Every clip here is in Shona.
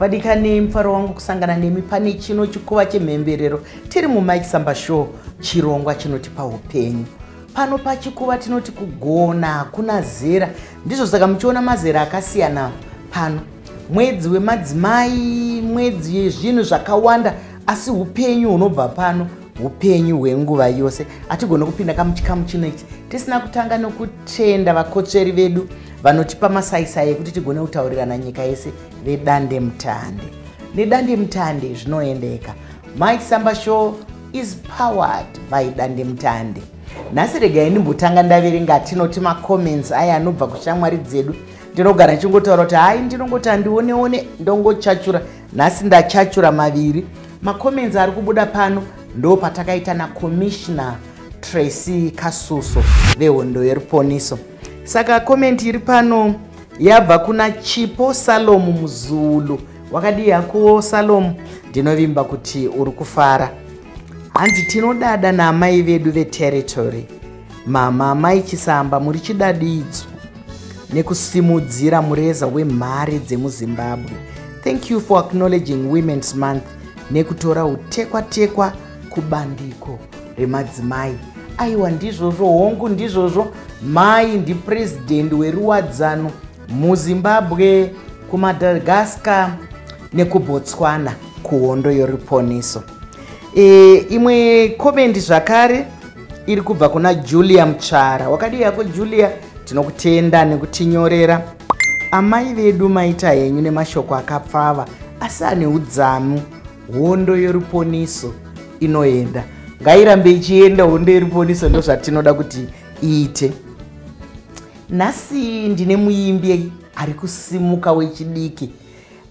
vadikani mufaro wangu kusangana nemi pane chino chikuva chemhemberero tiri mumike samba show chirongwa chinotipa upenyu pano pachikuva tinoti kugona hakuna zera ndizvo saka muchiona mazera akasiyana pano mwedzi wemadzimai mwedzi yezvinhu zvakawanda asi upenyu hunobva pano upenyu hwenguva yose hatigone kupinda kamuchikamu chino ichi tisina kutanga nokutenda vakotsveri vedu vanotipa masaisai ekuti tigone kutaurirana nyika yese vedande mutande nedande mutande zvinoendeka mike samba show is powered by dande mutande nhasi regai ndimbotanga ndaverenga tinoti macomments aya anobva kushamwari dzedu ndinogara ndichingotaura kuti hai ndinongoti handioneone ndongochachura nhasi ndachachura maviri macomments ari kubuda pano ndo patakaita nacommissioner tracy kasuso vehondo yeruponiso saka comment iri pano yabva kuna chipo salomu muzulu wakadii hakuwo salomu ndinovimba kuti uri kufara hanzi tinodada naamai vedu veterritory Mama amai Chisamba muri chidadidzo nekusimudzira mureza wemhare dzemuZimbabwe. Thank you for acknowledging Women's Month nekutora utekwa-tekwa kubandiko remadzimai. Aiwa ndizvozvo hongu ndizvozvo mai ndipresident weruwadzano muZimbabwe, kuMadagascar nekuBotswana kuhondo yoriponeso. e, imwe komendi zvakare iri kubva kuna julia mutsvara wakadii yako julia tinokutenda nekutinyorera amai vedu maita henyu nemashoko akapfava asi ane udzamu hondo yoruponiso inoenda ngairambe ichienda hondo yoruponiso ndozvatinoda kuti iite nhasi ndine muimbi ari kusimuka wechidiki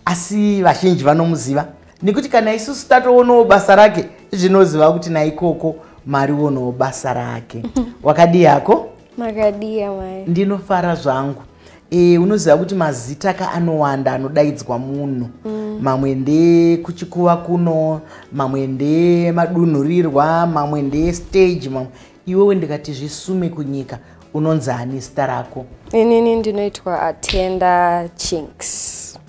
asi vazhinji vanomuziva nekuti kana isusu tatoonawo basa rake zvinoziva kuti naikoko marionawo basa rake wakadii yako makadiya mai ndinofara zvangu e, unoziva kuti mazita ka anowanda anodaidzwa munhu mm. mamwe ndekuchikuva kuno mamwe ndemadunhurirwa mamwe ndestage mamwe iwewe ndikati zvisume kunyika unonzi ani zita rako inini ndinoitwa atenda chinks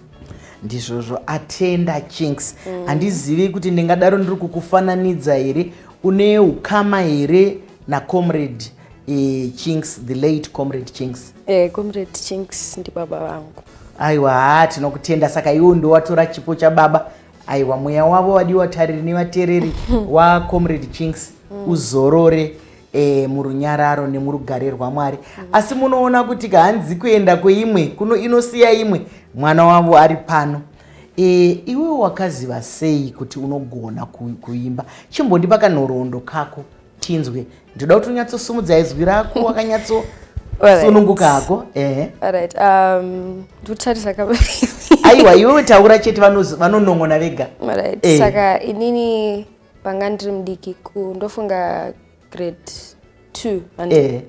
ndizvozvo atenda chinks mm. handizivi mm. kuti ndingadaro ndiri kukufananidza here une ukama here nacomrade e, chinks the late comrade chinks e, comrade chinks ndibaba vangu aiwa haa tinokutenda saka iwo ndowatora chipo chababa aiwa mweya wavo wadiwa tariri nevatereri wacomrade chinks mm. uzorore e, murunyararo nemurugare rwamwari mm. asi munoona kuti kahanzi kuenda kweimwe kuno inosiya imwe mwana wavo ari pano e, iwe wakaziva sei kuti unogona kuimba chimbondipa kanhoroondo kako tinzwe ndoda kuti unyatsosumudza izwi rako wakanyatso sununguka hako ehe right um ndikutarisa ka aiwa iwe taura chete vanonongona vega right eh. saka inini panga ndiri mudiki ku ndofunga grade two eh.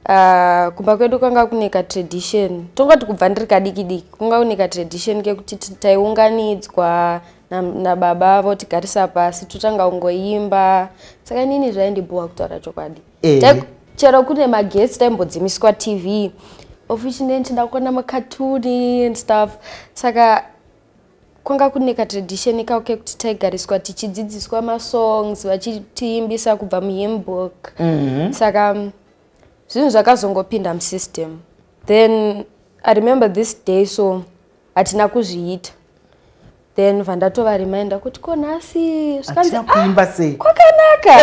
ah, kumba kwedu kwanga kune katradition tongati kubva ndiri kadiki diki kunga kune katradition kekuti taiunganidzwa nababa na votigarisa pasi totanga ungoimba saka inini zvaindibhowa kutaura chokwadi eh. chero kune magesi taimbodzimiswa tv officially ndichida kuona makatuni and stuff saka kwanga kune katradition kao kekuti taigariswa tichidzidziswa masongs vachitiimbisa kubva muhimbook mm -hmm. saka mm, zvinhu zvakazongopinda musystem then i remember this day so hatina kuzviita then vandatova reminder kuti ko nhasi zvikanzi ah, kwakanaka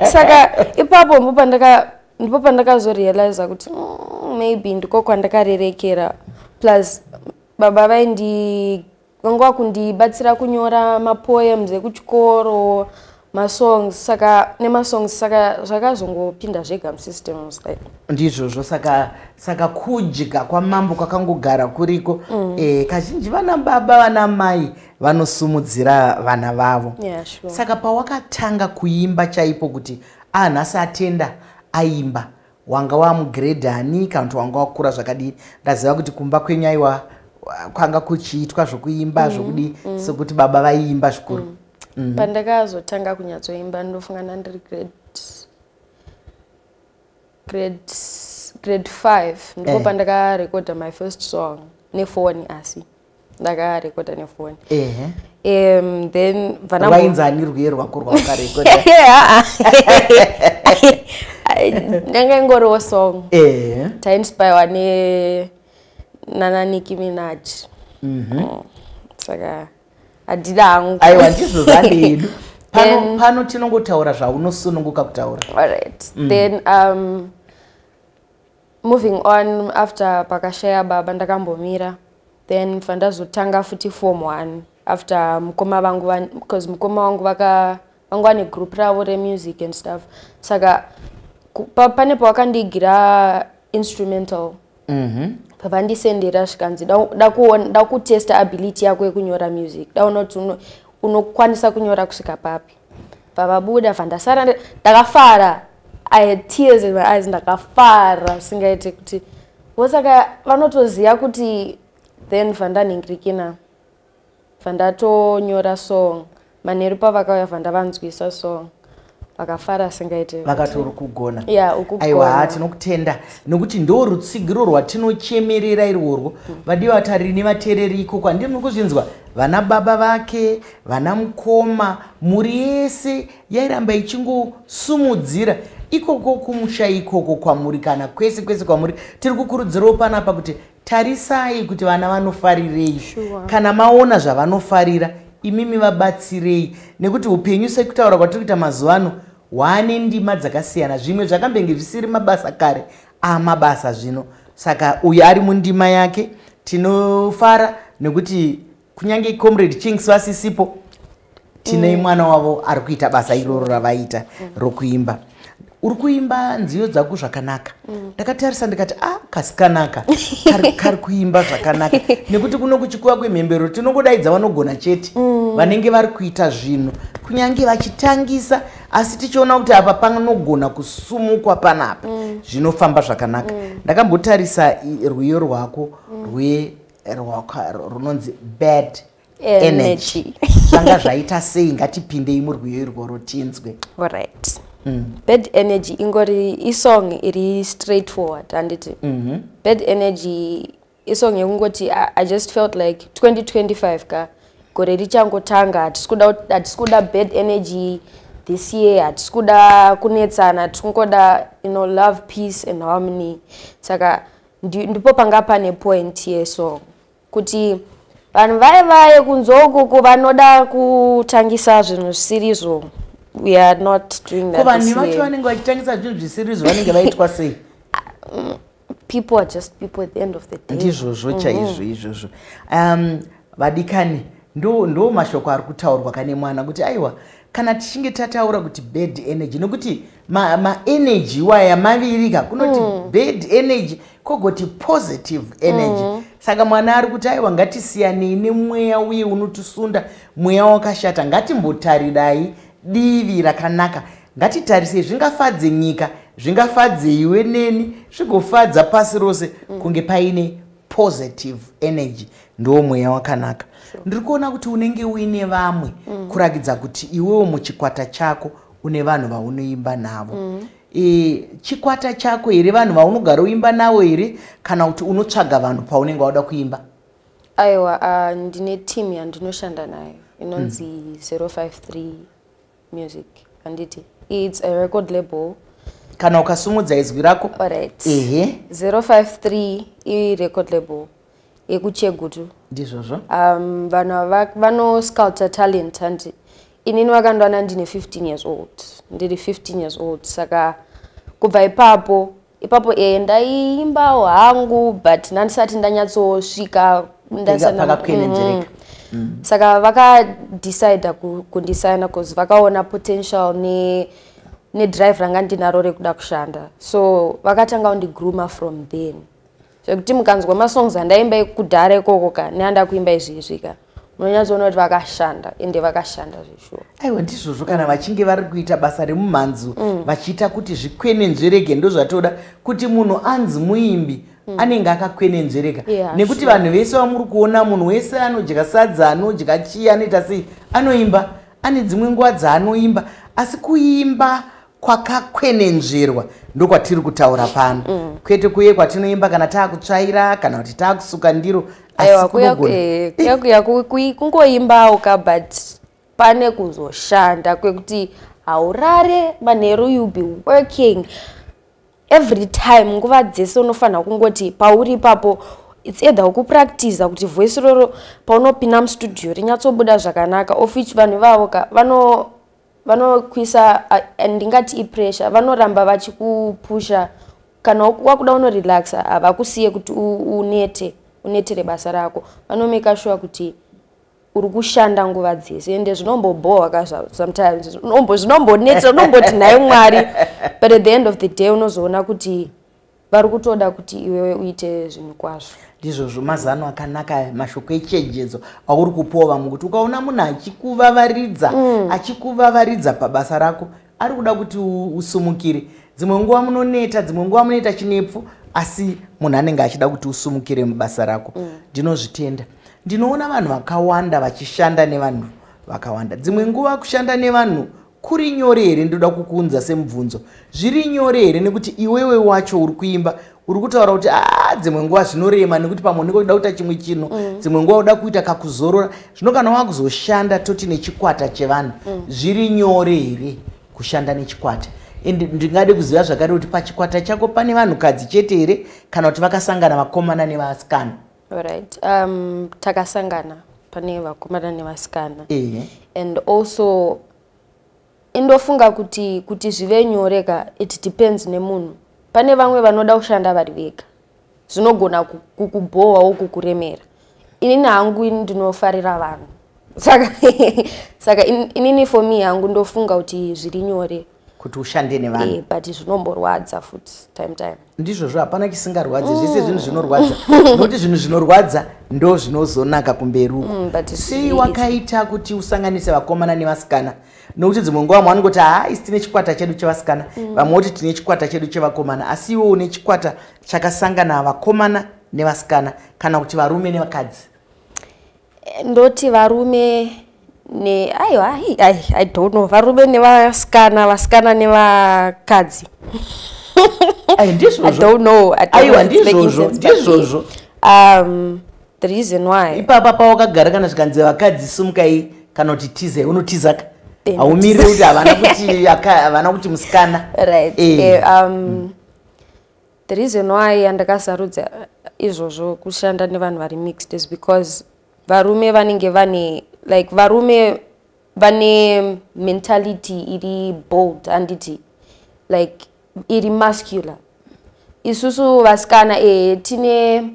saka ipapo ndipo pandaka ndipo pandakazorealiza kuti mm, maybe ndiko kwandakarerekera plus baba vaindi vanga vakundibatsira kunyora mapoems ekuchikoro masongs saka nemasongs saka zvakazongopinda zvega musystems like ndizvozvo saka saka kudya kwamambo kwakangogara kuriko mm. e, kazhinji vana baba vana mai vanosumudzira vana vavo yeah, sure. saka pawakatanga kuimba chaipo kuti anhasi ah, atenda aimba wanga wamugrade ani kana kuti wanga wakura zvakadii ndaziva kuti kumba kwenyu aiwa kwanga kuchiitwa zvokuimba mm, zvokudii mm. sokuti baba vaiimba zvikuru mm. mm. pandakazotanga kunyatsoimba ndofunga ndandiri grade grade grade five ndipo eh. pandakarekoda my first song nefoni asi ndakarekoda nefoni ehe um then vanainzi ani rwiyo rwako rwawakarekoda ndanga ingoriwo song ehe tainspirewa ne nana niki minaji mhm. mm, saka adida hangu aiwa ndizvo zvandidu pano pano tinongotaura zvaunosununguka kutaura alright mm. then um moving on after pakashaya baba ndakambomira then bva ndazotanga futi form one after mukoma vangu because mukoma wangu vaka vanga vane group ravo remusic and stuff saka pa, pane pawakandiigira instrumental mhm. pavandisendera mm -hmm. zvikanzi dakutesta ability yako yekunyora music daona kuti unokwanisa kunyora kusvika papi pavabuda fa ndasara ndakafara i had tears in my eyes ndakafara singaite kuti vosaka vanotoziva kuti then vandanhingirikina vandatonyora song manheru pavakauya vandavanzwisa song vakafara singaite vakati uri kugona ya aiwa haa tinokutenda nokuti ndo rutsigiro rwatinochemerera irworwo vadiwa vatarini vatereri ikoko handii muri kuzvinzwa vana baba vake vana mukoma mhuri yese yairamba ichingosumudzira ikoko kumusha ikoko kwamuri kana kwese kwese kwamuri tiri kukurudzirawo panapa kuti tarisai kuti vana vanofarirei sure. kana maona zvavanofarira imimi vabatsirei nekuti upenyu sekutaura kwatiri kuita mazuva ano hwane ndima dzakasiyana zvimwe zvakambenge zvisiri mabasa kare amabasa zvino saka uyo ari mundima yake tinofara nekuti kunyange comrade chinks vasisipo tinei mm. mwana wavo ari kuita basa iroro ravaita mm. rokuimba uri kuimba nziyo dzako zvakanaka mm. ndakatarisa ndikati a ah, kasikanaka kari kuimba zvakanaka nekuti kuno kuchikuva kwemhembero tinongodaidza vanogona chete mm. vanenge vari kuita zvinhu kunyange vachitangisa asi tichiona kuti apa panogona kusumukwa panapa mm. zvinofamba zvakanaka ndakambotarisa rwiyo rwako rwe rwako runonzi bad energy zvanga zvaita sei ngatipindei murwiyo irworo tinzwe orit mm. bad energy ingori isong iri straight forward handiti mm -hmm. bad energy isong yekungoti i just felt like 2025 ka gore richangotanga hatisi kuda bad energy this year hatisi kuda kunetsana tiri kungoda you know love peace and harmony saka ndipo panga pane point yesong kuti vanhu vaye vaye kunzwa ukoko vanoda kutangisa zvinhu zvisirizvo we are not doing that vanhu vacho vanenge vachitangisa zvinhu zvisirizvo vanenge vaitwa sei mm, people are just people at the end of the day ndizvozvo mm-hmm. chaizvo izvozvo um, vadikani ndo, ndo mashoko ari kutaurwa kane mwana kuti aiwa kana tichinge tataura kuti bad energy nokuti maenergy ma iwaya mavirika kunoti mm. bad energy kogoti positive energy mm. saka mwana ari kuti aiwa ngatisiyanei nemweya uye unotisunda mweya wakashata ngatimbotarirai divi rakanaka ngatitarisei zvingafadze nyika zvingafadze iwe neni zvigofadza pasi rose mm. kunge paine positive energy ndiwo mweya wakanaka sure. ndiri kuona kuti unenge uine vamwe mm. kurakidza kuti iwewo muchikwata chako une vanhu vaunoimba navo mm. e, chikwata chako here vanhu vaunogara uimba navo here kana kuti unotsvaga vanhu paunenge wauda kuimba aiwa uh, ndine team yandinoshanda nayo inonzi mm. 053 music handiti its a record label kana ukasumudza izwi rako right. ehe 053 i record label yekuchegutu ndizvozvo um, vanhu ava vanosculpta talent hanti inini vakandwana ndine 15 years old ndiri 15 years old saka kubva ipapo ipapo e ndaiimbawo hangu but ndandisati ndanyatsosvika ndasanaakakuenenzereka mm-hmm. Mm. saka vakadecide kundisaina bcause vakaona potential ne nedrive ranga ndinaro rekuda kushanda so vakatanga kundigroomer from then zvekuti mukanzwa masongs andaimba ekudhara ikoko ka neanda kuimba izvi izvi ka munonyatsoona kuti vakashanda ende vakashanda zveshuwa aiwa ndizvozvo kana vachinge vari kuita basa remumhanzu mm. vachiita kuti zvikwenenzverege ndozvatoda kuti munhu anzi muimbi mm. anenge akakwenenzvereka yeah, nekuti sure. vanhu vese vamuri kuona munhu wese anodya sadza anodya chii anoita sei anoimba ane dzimwe nguva dzaanoimba asi kuimba kwakakwenenzverwa ndokwatiri kutaura pano mm. kwete kuye kwatinoimba kana taakutsvaira kana kuti taakusuka ndiro asikungoimbawo ka but pane kuzoshanda kwekuti haurare manheru you be working every time nguva dzese unofanira kungoti pauri ipapo its either ukupractiza kuti voice roro paunopinda mustudio rinyatsobuda zvakanaka of which vanhu ivavo ka vano vanokuisa ndingati ipressure vanoramba vachikupusha kana wakuda unorelaxa havakusiye kuti unete unetere basa rako vanomeka shuwa kuti uri kushanda nguva dzese ende zvinombobohwa ka sometimes zvinombonetsa unomboti nhai mwari but at the end of the day unozoona kuti vari kutoda kuti iwewe uite zvinhu kwazvo ndizvozvo mazano akanaka aya mashoko echenjedzo auri kupiwa vamwe kuti ukaona munhu achikuvavaridza mm. achikuvavaridza pabasa rako ari kuda kuti usumukire dzimwe nguva munoneta dzimwe nguva munoita chinepfu asi munhu anenge achida kuti usumukire mubasa rako mm. ndinozvitenda mm ndinoona vanhu vakawanda vachishanda nevanhu vakawanda dzimwe nguva kushanda nevanhu kuri nyore here ndoda kukuunza semubvunzo zviri nyore here nekuti iwewe wacho uri kuimba uri kutaura kuti a ah, dzimwe nguva zvinorema nekuti pamwe unenge uchida kuita chimwe chinhu mm. dzimwe nguva uda kuita kakuzorora zvino kana wakuzoshanda toti nechikwata chevanhu mm. zviri nyore here kushanda nechikwata and ndingade kuziva zvakare kuti pachikwata chako pane vanhukadzi chete here kana kuti vakasangana vakomana nevasikana Alright. Um, takasangana pane vakomana nevasikana yeah. and also indofunga kuti kuti zvive nyore ka it depends nemunhu pane vamwe vanoda kushanda vari vega zvinogona kukubhohwawo kukuremera inini hangu ini ndinofarira vanhu saka saka inini for me hangu ndofunga kuti zviri nyore kuti ushande nevanhu eh, but zvinomborwadza futi time time ndizvozvo hapana chisingarwadzi mm. zvese zvinhu zvinorwadza nokuti zvinhu zvinorwadza ndo zvinozonaka kumberi uko mm, sei wakaita kuti usanganise vakomana nevasikana nokuti dzimwe nguva mwana kuti haa isi tine chikwata chedu chevasikana mm. vamwe kuti tine chikwata chedu chevakomana asi iwo une chikwata chakasangana vakomana nevasikana kana kuti varume nevakadzi ndoti varume ne aiwa i, I, i don't know varume nevasikana vasikana nevakadzi i don't know aiwa ndizvozvo ndizvozvo um the reason why ipapa pawakagara kana zvikanzi vakadzi simukai kana kuti tize unotizaka haumiri kuti havana kuti havana kuti musikana right e, um, mm. The reason why yandakasarudza izvozvo kushanda nevanhu vari mixed is because varume vanenge vane like varume vane mentality iri bold handiti like iri muscular isusu vasikana ee eh, tine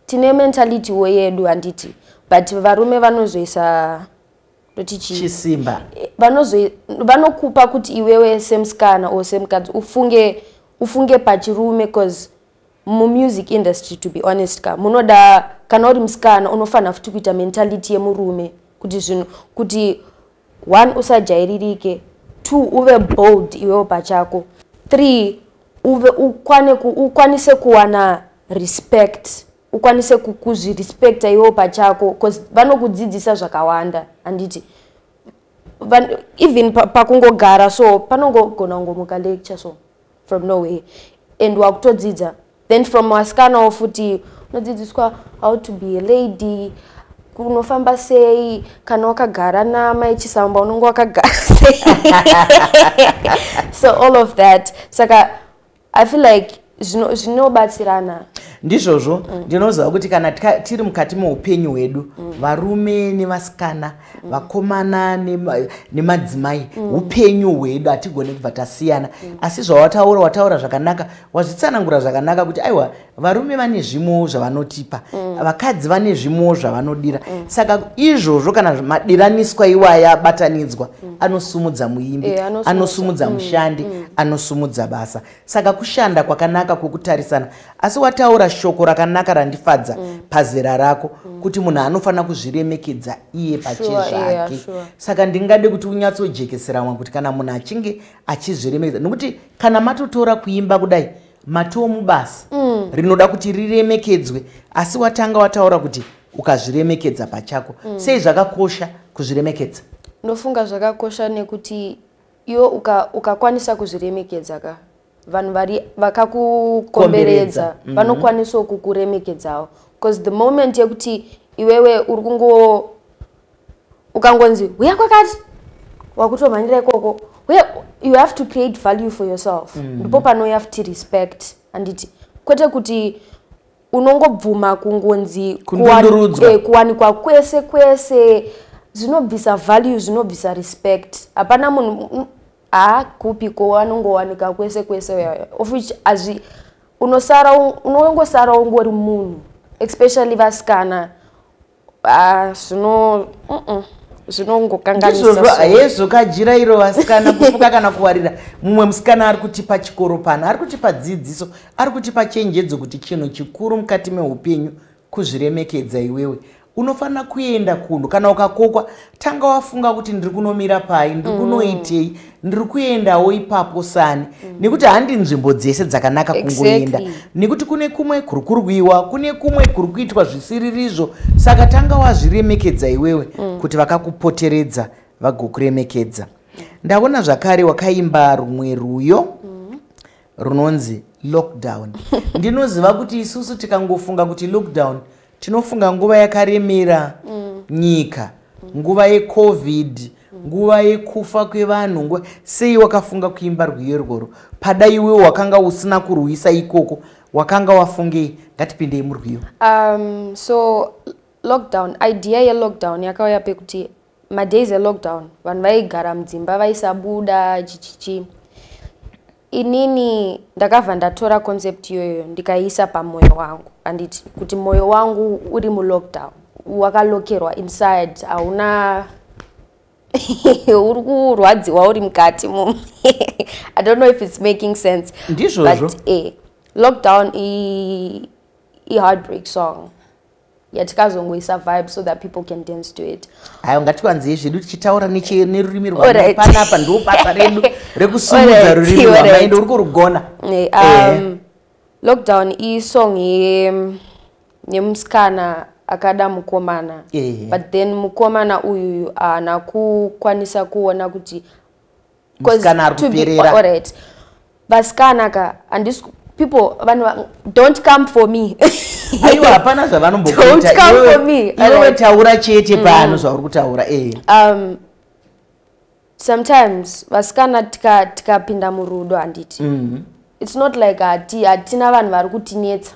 tine mentality wo yedu handiti but varume vanozoisa ndoti chii chisimba Eh, vanozo- vanokupa kuti iwewe semusikana or semukadzi ufunge ufunge pachirume bcause mumusic industry to be honest ka munoda kana uri musikana unofanira futi kuita mentality yemurume kuti zvinhu kuti one usajairirike two uve bold iwewe pachako three uve ukwane ku, ukwanise kuwana respect ukwanise kuzvirespecta iwewo pachako bcause vanokudzidzisa zvakawanda handiti even pakungogara so panongogona kungomuka lecture so from nowhere and wakutodzidza then from wasikanawo futi unodzidziswa how to be a lady unofamba sei kana wakagara namai chisamba unonge wakagara sei so all of that saka i feel like zvinobatsirana zvino ndizvozvo mm. ndinoziva kuti kana tiri mukati meupenyu hwedu mm. varume nevasikana mm. vakomana nemadzimai mm. upenyu mm. hwedu hatigone kubva tasiyana mm. asi zvawataura wataura zvakanaka wazvitsanangura zvakanaka kuti aiwa varume vane zvimowo zvavanotipa mm. vakadzi mm. vane zvimowo zvavanodira mm. saka izvozvo kana madiraniswa iwaya abatanidzwa mm. anosumudza muimbi e, anosumudza, anosumudza mm. mushandi mm. anosumudza basa saka kushanda kwakanaka kwokutarisana asi wataura shoko rakanaka randifadza mm. pazera rako mm. kuti munhu anofanira kuzviremekedza iye pache sure, zvake yeah, sure. saka ndingade kuti unyatsojekesera mwa kuti kana munhu achinge achizviremekedza nokuti kana matotora kuimba kudai matiwo mubasa mm. rinoda kuti riremekedzwe asi watanga wataura kuti ukazviremekedza pachako mm. sei zvakakosha kuzviremekedza ndofunga zvakakosha nekuti iwo ukakwanisa uka kuzviremekedza ka vanhu vari vakakukomberedza mm -hmm. vanokwanisawo kukuremekedzawo bcause the moment yekuti iwewe uri kungo ukangonzi huya kwakati wakutomhanyira ikoko uye you have to create value for yourself mm. ndipo mm. panouya futi respect anditi kwete kuti unongobvuma kungonzi eh, kuwanikwa kwese kwese zvinobvisa value zvinobvisa respect hapana munhu haakupi ko anongowanika kwese kwese of which azvi unosara unongosara ungori munhu especially vasikana ah, zvino zvinongokanganisahezvo kajira iro vasikana kufuka kana kuwarira mumwe musikana ari kutipa chikoro pano ari kutipa dzidziso ari kutipa chenjedzo kuti chinhu chikuru mukati meupenyu kuzviremekedza iwewe unofanira kuenda kunhu kana ukakokwa tanga wafunga kuti ndiri kunomira pai ndiri mm. kunoitei ndiri kuendawo ipapo sani mm. nekuti handi nzvimbo dzese dzakanaka kungoenda exactly. nekuti kune kumwe kuri kurwiwa kune kumwe kuri kuitwa zvisiririzvo saka tanga wazviremekedza iwewe mm. kuti vakakupoteredza vagokuremekedza mm. ndaona zvakare wakaimba rumwe rwuyo mm. runonzi lockdown ndinoziva kuti isusu tikangofunga kuti lockdown tinofunga nguva yakaremera mm. nyika nguva yecovid nguva yekufa kwevanhu nguva sei wakafunga kuimba rwiyo irworwo pada iwe wakanga usina kurwisa ikoko wakanga wafungei ngatipindei murwiyo um, so lockdown idea yelockdown yakauya pekuti madays elockdown vanhu vaigara mudzimba vaisabuda chichichi inini ndakabva ndatora concept iyoyo ndikaiisa pamwoyo wangu anditi kuti mwoyo wangu uri mulockdown wakalokerwa inside hauna uri kurwadziwa uri mukati mu i don't know if it's making sense ndizvozvo but eh, lockdown i, i heartbreak song yatikazongoisa vibe so that people can dance to it ayo ngatikwanzei zvedu tichitaura nerurimi rwapanapa ndo basa redu rekusumudza rurimi rwamai ndouri kurugona eh, eh. um, lockdown isong yemusikana akada mukomana eh. but then mukomana uyuyu haana kukwanisa kuona kuti musikana ari kuperera alright vasikana ka andis people vanhu don't come for me aiwa hapana zvavanombokuita iwewe taura chete mm. pano zvauri kutaura eh um sometimes vasikana tikapinda tika murudo handiti mm -hmm. it's not like hati hatina vanhu vari kutinetsa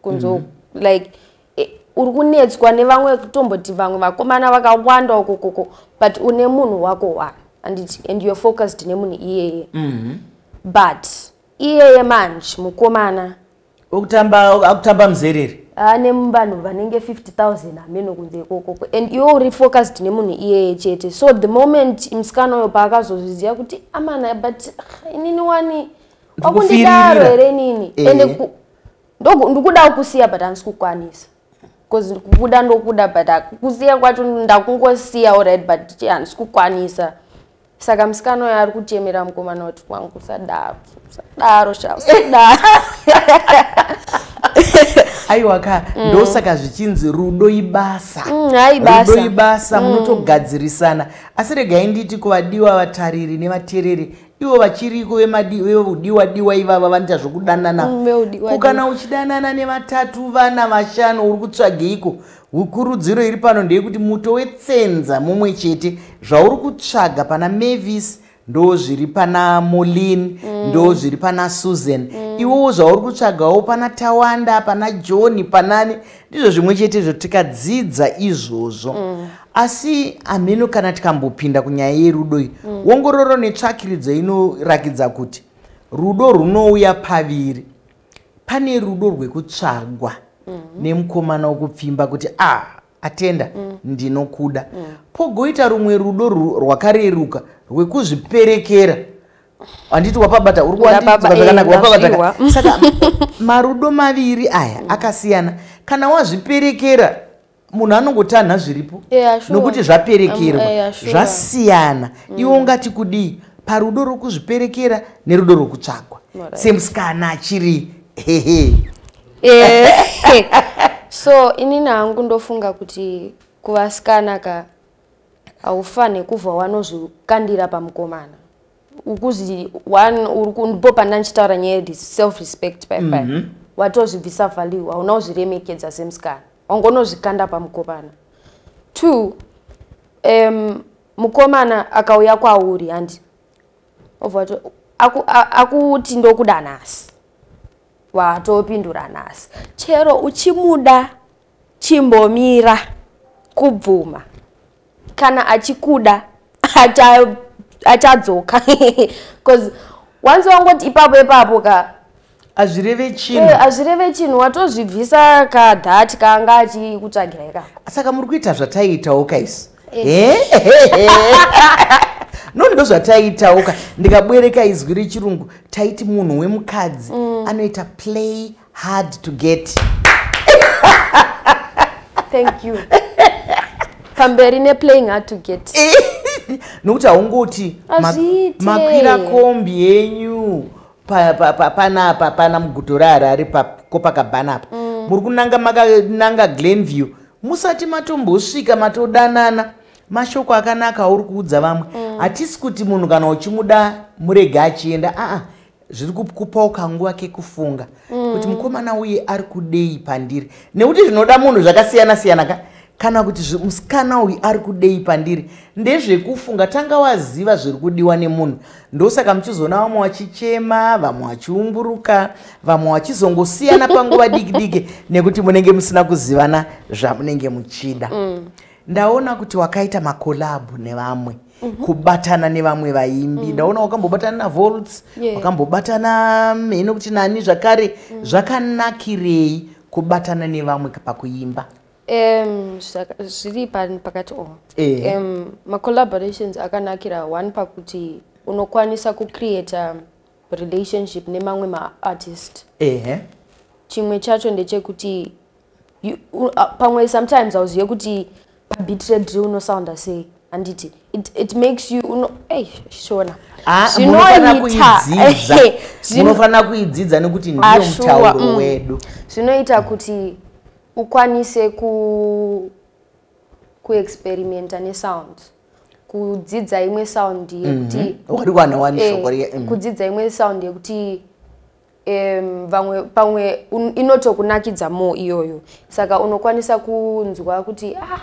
kunzo mm -hmm. like e, uri kunetswa nevamwe kutomboti vamwe vakomana vakawanda ukokoko but une munhu wako wa and, it, and you're focused nemunhu iyeye mm -hmm. but iyeye manje mukomana okutamba akutamba muzerere ane vanhu vanenge 50000 hameno kunze ikokoko and iwe uri focused nemunhu iyeye chete so the moment musikana uyo paakazozviziva kuti amana but ah, inini wani wakundidaro here inini eh. ende ndikudawo kusiya but handisi kukwanisa bcause kubuda ndokuda but kusiya kwacho ndakungosiya allright but handisi kukwanisa saka musikana uyo ari kuchemera mukomana wati wangu usadaro usadaro sha usadaro aiwa ka mm. ndosaka zvichinzi rudo ibasa mm, rudo ibasa mm. munotogadzirisana asi regai nditi kuvadiwa vatariri nevatereri ivo vachiriko vevudiwa diwa ivava vanoita zvokudanana mm, kana uchidanana nevatatu vana vashanu uri kutsvageiko kurudziro iri pano ndeyekuti muto wetsenza mumwe chete zvauri kutsvaga pana mavis ndo zviri pana molin mm. ndo zviri pana susan mm. iwowo zvauri kutsvagawo pana tawanda pana john panani ndizvo zvimwe chete izvo tikadzidza izvozvo mm. asi hameno kana tikambopinda kunyaya yerudo iyi mm. wongororo netsvakiridzo inorakidza kuti rudo runouya paviri pane rudo rwekutsvagwa mm. nemukomana wokupfimba kuti a ah, atenda mm. ndinokuda mm. pogoita rumwe rudo rwakareruka rwekuzviperekera handiti wapabata uri kuwandidzwa zvakanaka eh, wapabata saka marudo maviri aya akasiyana kana wazviperekera munhu anongotanha zviripo yeah, sure. nokuti zvaperekerwa um, eh, yeah, sure. zvasiyana mm. iwo ungati kudii parudo rwokuzviperekera nerudo rwokutsvagwa right. semusikana achiri hehe eh, so inini hangu ndofunga kuti kuvasikana ka haufane kubva wanozvikandira pamukomana ukuzi one ndipo panda ndichitaura nyaya yedi self respect pai pai mm -hmm. watozvibvisa value hauna kuzviremekedza semusikana wanga unozvikanda pamukomana two um, mukomana akauya kwauri handi ovati akuti ndokuda nhasi watopindura nhasi chero uchimuda chimbomira kubvuma kana achikuda achadzoka bcause once wangoti ipapo ipapo ka hazvireve chinhu eh, hazvireve hey, chinhu watozvibvisa ka that kaanga achikutsvagira ikako saka muri kuita zvataiitawo kaisi eh. no ndo zvataiitawo ka ndikabwereka izwi rechirungu taiti munhu wemukadzi mm. anoita play hard to get thank you pamberi neplaying hard to get nokuti haungoti makwira kombi yenyu panapa pana muguto reharare pakopakabhana apa mm. muri kunanga makananga glenview musati matombosvika matodanana mashoko akanaka auri kuudza vamwe mm. hatisi kuti munhu kana uchimuda murege achienda aa zviri kukupawo kanguva kekufunga mm. kuti mukomana uye ari kudei pandiri nekuti zvinoda munhu zvakasiyana siyana ka kana kuti musikana uyu ari kudei pandiri ndezvekufunga tanga waziva zviri kudiwa nemunhu ndosaka muchizoona vamwe vachichema vamwe vachiumburuka vamwe vachizongosiyana panguva diki diki nekuti munenge musina kuzivana zvamunenge muchida mm. ndaona kuti wakaita makolabhu nevamwe mm. mm -hmm. kubatana nevamwe vaimbi mm. ndaona wakambobatana navolts yeah. wakambobatana mm, hino kuti nani zvakare mm. zvakanakirei kubatana nevamwe pakuimba um, zviri pakati o eh. um, macollaborations akanakira one pakuti unokwanisa kucreata relationship nemamwe maartist eh. chimwe chacho ndechekuti uh, pamwe sometimes auzive kuti pabitre drill unosounda sei handiti it, it makes you uno hey, shona ah, zvinoitaunofanira kuidzidza nekuti ndiyo ah, mutauro mm. wedu zvinoita kuti ukwanise ku kuexperimenta nesound kudzidza imwe sound yekuti mm -hmm. eh, mm. kudzidza imwe sound yekuti um, vamwe pamwe un, inotokunakidza mo iyoyo saka unokwanisa kunzwa kuti ah,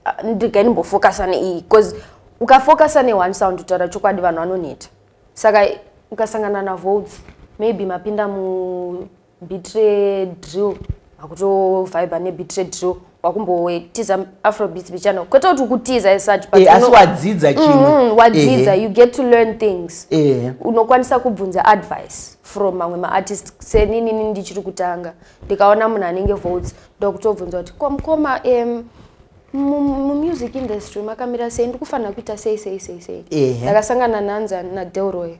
ah ndigai ndimbofokasa neiyi bcause ukafokasa neone sound kutaura chokwadi vanhu vanoneta saka ukasangana navotes maybe mapinda mubit redrill akutovhiber nebit redrill wakumbotiza afrobeats bichana kwete kuti ukutiza esuch but eh, asi wadzidza chimwe mm-hmm, wadzidza you get to learn things eh. unokwanisa kubvunza advice from mamwe maartist seninini ndichiri kutanga ndikaona munhu anenge votes ndokutobvunza kuti kwamukoma um, mumusic industry makamira sei ndikufanira kuita sei sei sei sei ndakasangana nanza nadelroy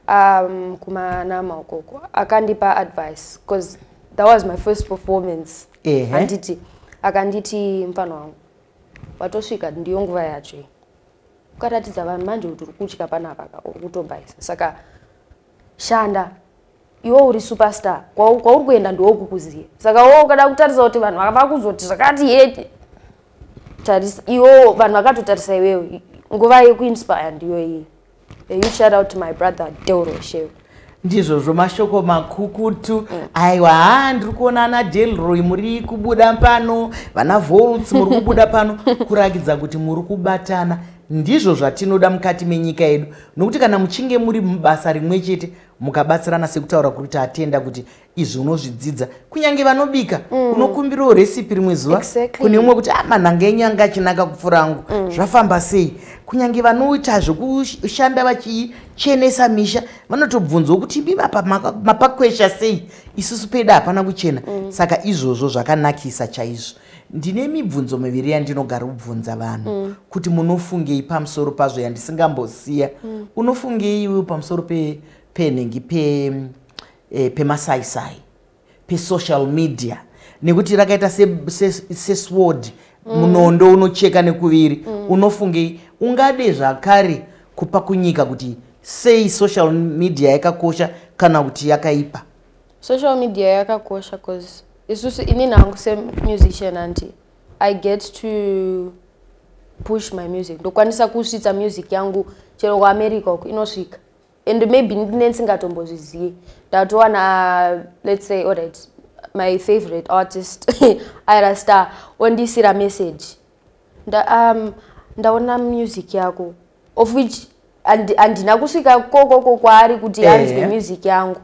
um, kumanama ukoko akandipa advice because that was my first performance handiti akanditi mfana wangu watosvika ndiyo nguva yacho iyi ukaratidza vanhu manje kuti uri kutya panapaka uri kutombaisa saka shanda iwe uri superstar kwauri kuenda ndiwokukuziva saka wo ukada kutarisa kuti vanhu vakuzoti zvakati hete tarisa iwo vanhu vakatotarisa iwewe nguva yekuinspire ndiyo iyi Hey, you shout out to my brother Doro Shew. ndizvozvo mashoko makukutu mm. aiwa haa ndiri kuona ana delroy muri kubuda pano vana volts muri kubuda pano kurakidza kuti muri kubatana ndizvo zvatinoda mukati menyika yedu nokuti kana muchinge muri mubasa rimwe chete mukabatsirana sekutaura kuri kuti atenda kuti izvi unozvidzidza kunyange vanobika mm. unokumbirawo recipe rimwe zuva exactly. kune umwe kuti ah, manhanga enyu anga achinaka kupfuura angu mm. zvafamba sei kunyange vanoita zvekushanda vachichenesa misha vanotobvunzwa kuti imi apa mapakwesha sei isusu peda hapana kuchena mm. saka izvozvo zvakanakisa chaizvo ndine mibvunzo miviri yandinogara kubvunza vanhu mm. kuti munofungei pamusoro pazvo yandisingambosiya mm. unofungei iwe pamusoro penhengi pe, pe e, pemasaisai pesocial media nekuti rakaita sesword se, se mm. munondo mm. unocheka nekuviri mm. unofungei ungade zvakare kupa kunyika kuti sei social media yakakosha kana kuti yakaipa social media yakakosha bcause isusu ini nangu semusician anti i get to push my music ndokwanisa kusvitsa music yangu chero kuamerica uku inosvika and maybe nensingatombozvizivi ndatowana let's say alright my favorite artist ira star ondiisira message nda, um, ndaona music yako of which handina kusvika kokoko kwaari kuti eh. anzwe yeah. music yangu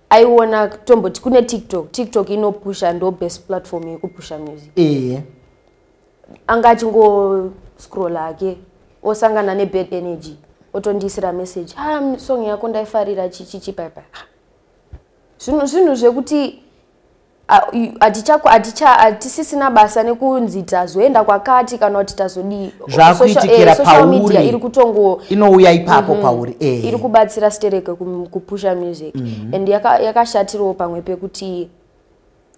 aiona tomboti kune tiktok tiktok inopusha ndo best platform yekupusha music yeah. anga achingoscrolla hake osangana nebad energy otondiisira message ha ah, song yako ndaifarira chichichi paipa zvinhu zvinhu zvekuti hatisisina basa nekunzi tazoenda kwakati kana kuti tazodii zvakuitikira eh, pauri iri kutongo inouya ipapo mhm. pauri eh. iri kubatsira stereke kupusha music mhm. and yakashatirawo pamwe pekuti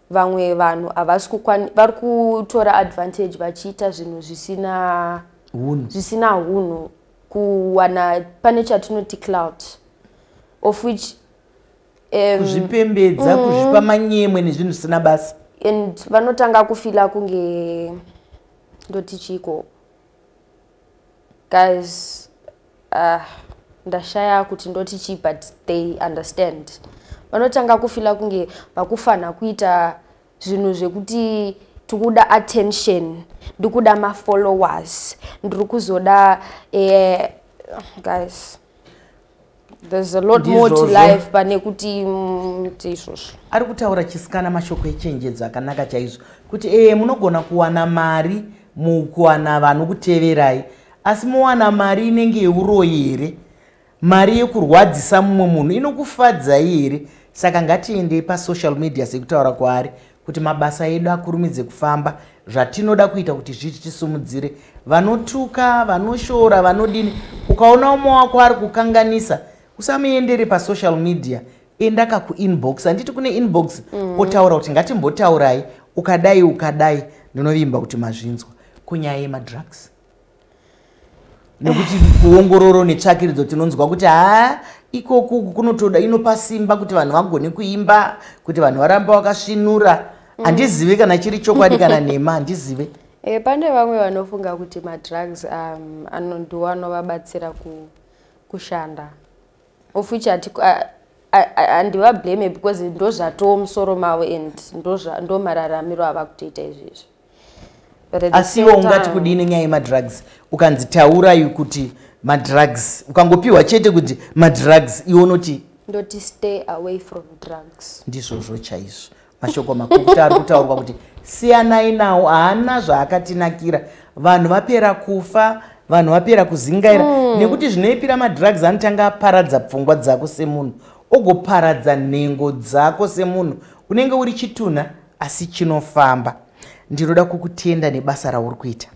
vamwe vanhu havasi kukwani vari kutora advantage vachiita zvinhu zvisina hunhu zvisina hunhu kuwana pane chatinoti cloud of which um, kuzvipembedza mm, kuzvipa manyemwe nezvinhu zvisina basa and vanotanga kufila kunge ndotichiiko guys uh, ndashaya kuti ndoti chii but they understand vanotanga kufila kunge vakufanha kuita zvinhu zvekuti tikuda attention ndikuda mafollowers ndiri kuzoda eh, guys there's a lot more to life pane kuti mm, tiizvozvo ari kutaura chisikana mashoko echenjedzo akanaka chaizvo kuti ee munogona kuwana mari mukuwana vanhu kuteverai asi mowana mari inenge yeuroyi here mari yekurwadzisa mumwe munhu inokufadzai here saka ngatiendei pasocial media sekutaura kwaari kuti mabasa edu akurumidze kufamba zvatinoda kuita kuti zviti tisumudzire vanotuka vanoshora vanodini ukaona umwe wako ari kukanganisa usamuendere pasocial media enda kakuinbox handiti kune inbox mm. otaura kuti ngatimbotaurai ukadai ukadai ndinovimba kuti mazvinzwa kunyaya yemadrugs nekuti kuongororo netsvakiridzo tinonzwa kuti haa ikoku kunotoda inopa simba kuti vanhu vagone kuimba kuti vanhu varamba vakasvinura mm. handizive mm. kana chiri chokwadi kana nhema handizive e, pane vamwe vanofunga kuti madrugs um, anondiwo anovabatsira ku, kushanda of which andivablame because ndozvatoo musoro mavo and ndomararamiro ava kutoita izvezvi asi iwo ungati kudii nenyaya yemadrugs ukanzi taurai kuti madrugs ukangopiwa chete kuti madrugs iwo unoti ndoti stay away from drugs ndizvozvo chaizvo mashoko makukuta ari kutaurwa kuti siyanai nawo haana zvaakatinakira vanhu vapera kufa vanhu vapera kuzingaira mm. nekuti zvinoipira madrugs anotanga aparadza pfungwa dzako semunhu ogoparadza nhengo dzako semunhu unenge uri chitunha asi chinofamba ndinoda kukutenda nebasa rauri kuita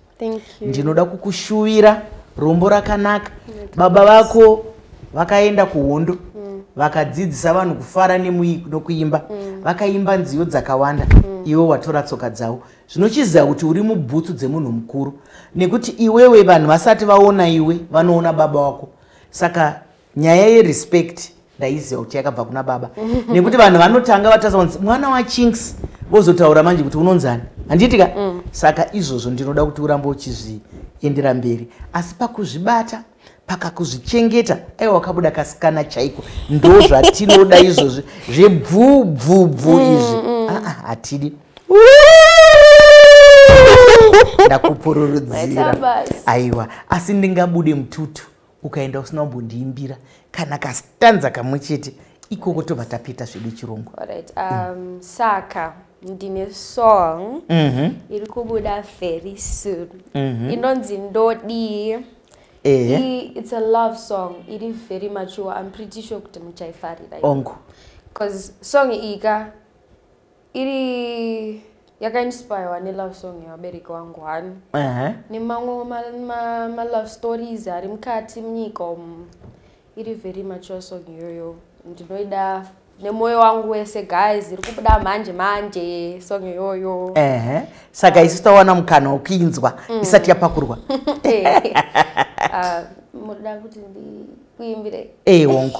ndinoda kukushuvira rombo rakanaka baba vako vakaenda kuhondo mm. vakadzidzisa vanhu kufara nokuimba mm. vakaimba nziyo dzakawanda mm. iwe watora tsoka dzavo zvinochiziva kuti uri mubhutsu dzemunhu mukuru nekuti iwewe vanhu vasati vaona iwe vanoona baba wako saka nyaya yerespect ndaiziva kuti yakabva kuna baba nekuti vanhu vanotanga vatasa kunzi mwana wachinks vozotaura manje kuti unonzani handiitika mm. saka izvozvo ndinoda kuti urambe uchizviendera mberi asi pakuzvibata pakakuzvichengeta aiwa wakabuda kasikana chaiko ndo zvatinoda izvozvi zvebvubvubvu mm, izvi mm. Ah, ah, hatidi ndakupururudzira aiwa asi ndingabude mututu ukaenda usina kumbondiimbira kana kastanza kamwe chete ikoko tobva tapeta zvedu chirungu right. um, mm. saka ndine song mm -hmm. iri kubuda very soon mm -hmm. inonzi ndodii Eh. It's a love song. It is very mature. I'm pretty sure kuti muchaifarira. Ongo. Because song iyi ka iri yakainspirewa nelove song yevabereki wangu hani uh -huh. nemamwe malove ma, ma stories ari mukati munyika umu iri very mature song iyoyo ndinoida nemwoyo wangu wese guys iri kubuda manje manje song iyoyo uh -huh. saka isu tawana mukana wokuinzwa mm. isati yapakurwa ah, munoda kuti ndikuimbire eyi wongu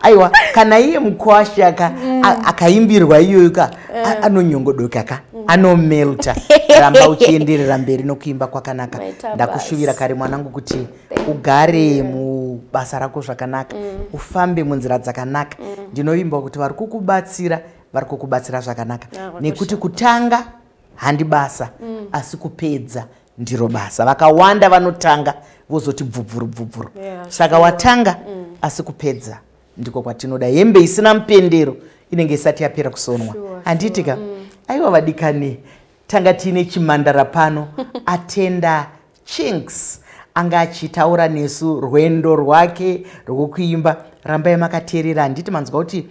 aiwa kana iye mukwashe aka mm. akaimbirwa iyoyo ka eh. anonyongodoka ka mm. anomelta ramba uchienderera mberi nokuimba kwakanaka ndakushuvira kare mwanangu kuti ugare mubasa rako zvakanaka mm. ufambe munzira dzakanaka ndinovimba kuti vari kukubatsira vari kukubatsira zvakanaka nekuti kutanga handi basa mm. asi kupedza ndiro basa vakawanda vanotanga vozoti bvubvuru bvubvuru yeah, saka sure. watanga mm. asi kupedza ndiko kwatinoda hembe isina mupendero inenge isati yapera kusonwa handiitika sure, sure. mm. aiwa vadikani tanga tiine chimandara pano atenda chinks anga achitaura nesu rwendo rwake rwokuimba rambai makateerera handiti manzwa kuti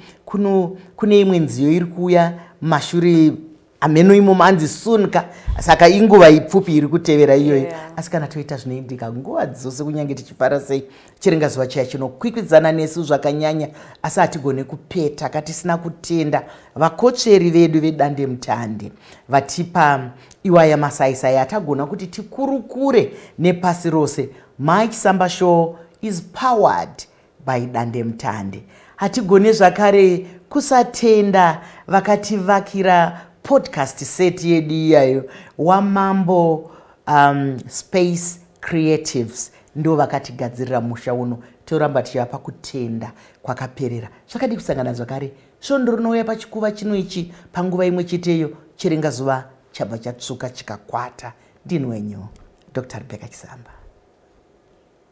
kune imwe nziyo iri kuuya mashure ameno imo manzi soon ka saka inguva ipfupi iri kutevera iyoyo yeah. asi kana toita zvinoindika nguva dzose kunyange tichifara sei chirenga zuva chiya chinokwikwidzana nesu zvakanyanya asi hatigone kupeta katisina kutenda vakotsveri vedu vedande mutande vatipa iwaya masaisai atagona kuti tikurukure nepasi rose mike samba show is powered by dandemutande hatigone zvakare kusatenda vakativakira podcast set yedu iyayo wamambo um, space creatives ndo vakatigadzirira musha uno toramba tichivapa kutenda kwakaperera zvakadii kusangana zvakare svondo rinouya pachikuva chino ichi panguva imwe cheteyo chirenga zuva chabva chatsvuka chikakwata ndinwenyu dr rebeka chisamba